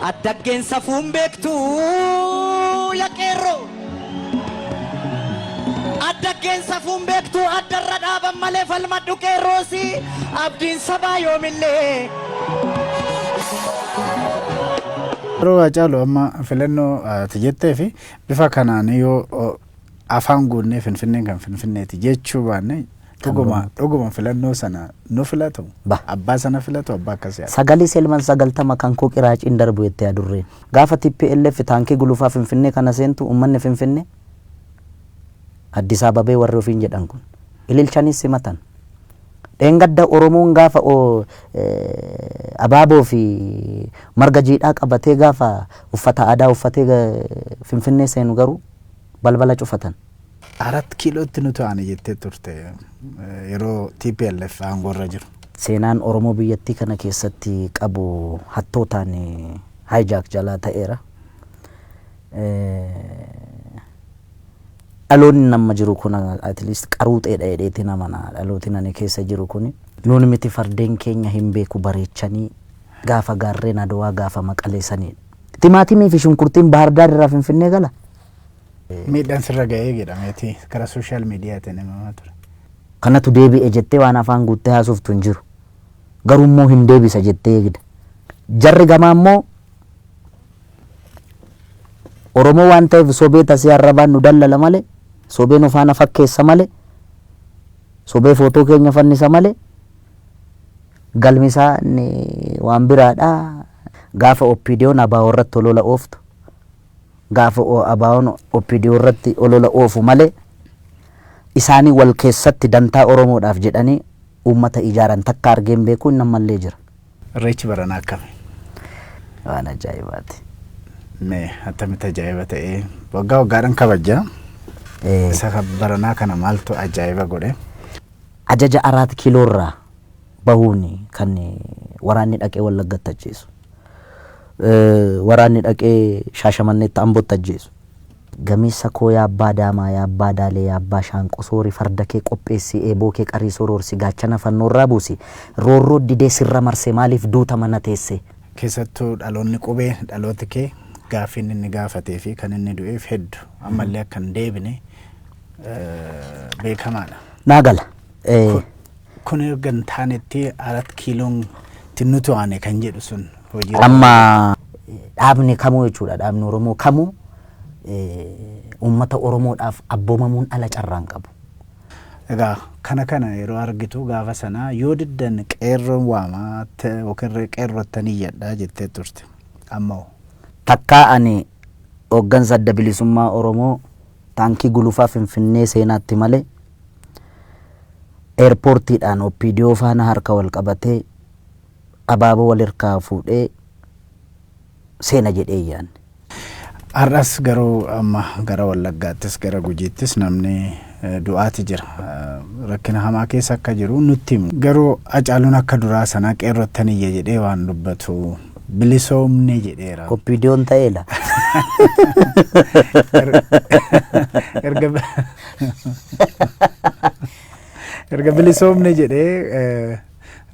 Addaggeen safuu hin beektu ya qeerroo. Addaggeen safuu hin beektu addarra dhaaban malee falmadhu qeerroosi abdiin sabaa yoomillee. Yeroo Haacaaluu amma filannoo ati jettee fi bifa kanaan yoo afaan guunnee finfinneen kan finfinneeti jechuu baanne Dhuguma dhuguma filannoo sana nu filatu Ba. abbaa sana filatu abbaa akkasii haa Sagalee Selman sagaltama kan koo qiraaciin darbu jette adurreen. Gaafa tplf taankii gulufaa Finfinnee kana seentu uummanni Finfinnee Addis Ababee warri ofiin jedhan kun ililchaniis simatan. Dheengadda Oromoon gaafa o, eh, abaaboo fi marga jiidhaa qabatee gaafa uffata aadaa uffatee ga- Finfinnee seenu garuu balbala cufatan. Arat Kiilootti nu to'ane jettee turte yeroo tplf aangoorra jiru. Seenaan Oromoo biyyattii kana keessatti qabu hattootaan hijack jalaa ta'eera. Dhaloonni amma jiru kun at least qaruuxeedha jedheetiin amana. Dhalootiin ani keessa jiru kuni. Nuun miti fardeen keenya hin beeku bareechanii gaafa gaarreen Adowaa gaafa Maqalee saniidha. Timaatimiifi shunkurtiin Baahar Daar irraa Finfinnee gala? Miidhaan sirra ga'ee jedhameeti karaa sooshaal miidiyaatiin himamaa ture. Kanatu deebi'e jettee waan afaan guuttee haasoftu hin jiru. Garuu immoo hin deebisa jettee eegda. Jarri gamaa immoo Oromoo waan ta'eef sobee tasee arrabaan nu dallala malee, sobee nu faana fakkeessa malee, sobee footoo keenya fannisa malee galmi isaa inni waan biraadha. Gaafa OPDOn ABO irratti olola ooftu Gaafa ABOn opdo irratti olola oofu malee isaanii wal keessatti dantaa Oromoodhaaf jedhanii uummata ijaaran takka argee hin beeku, inni ammallee jira. Irreechi baranaa akkami? Waan ajaa'ibaati. Mee attamitti ajaa'iba ta'e? Waggaa waggaadhaan kabajja. Ee, Isa kan baranaa kana maaltu ajaa'iba godhe? ajaja Araat Kiiloorraa bahuun kan waraanni dhaqee Wallaggatti ajjeesu. Waraanni dhaqee Shaashamanneetti Ambotti ajjeesu. Gameessa koo yaa abbaa daamaa yaa abbaa daalee yaa abbaa shaanqoo soori farda kee qopheessi eeboo kee qarii soroorsi gaachana fannoorraa buusi roorroo didee sirra marse maaliif duuta mana teesse. Keessattuu dhaloonni qubee dhalooti kee gaaffiin inni gaafatee fi kan inni du'eef heddu ammallee akka hin deebine beekamaadha. Naa gala. Kun. Kun erga hin taanetti arat kiiloon itti nu to'ane kan jedhu sun hojii Amma dhaabni kamuu jechuudha dhaabni Oromoo kamuu eh, uummata Oromoodhaaf abboomamuun ala carraa hin qabu. Egaa kana kana yeroo argitu gaafa sana yoo diddan qeerroon waama te- yookiin re- qeerrottan iyyadha jettee turte. Amma hoo? Takkaa ani hooggansa adda bilisummaa Oromoo Taankii Gulufaa Finfinnee seenaatti malee Eerpoortiidhaan OPDO faana harka wal qabatee abaaboo wal hirkaa fuudhee seena jedhee hin yaadne. Har'as garuu amma gara Wallaggaattis gara Gujiittis namni du'aati jira. Rakkina hamaa keessa akka jiru nutti himu. Garuu Hacaaluun akka duraa sanaa qeerrottan iyya jedhee waan dubbatu Bilisoomne jedheera. Oppiidiyoon ta'ee la. Erga erga bilisoomne jedhee eh,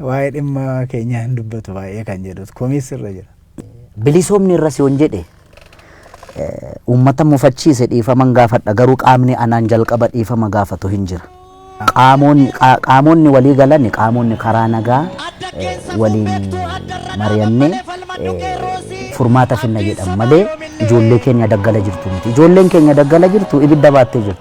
waa'ee dhimma keenyaa hin dubbatu baay'ee kan jedhus komiis irra jira. Bilisoomni irra si on jedhe Uummata mufachiise dhiifaman gaafadha garuu qaamni anaan jalqaba dhiifama gaafatu hin jira. Qaamonni walii galan qaamonni karaa nagaa waliin mari'annee furmaata finna jedhan malee ijoollee keenya daggala jirtu miti. Ijoolleen keenya daggala jirtu ibidda baattee jirti.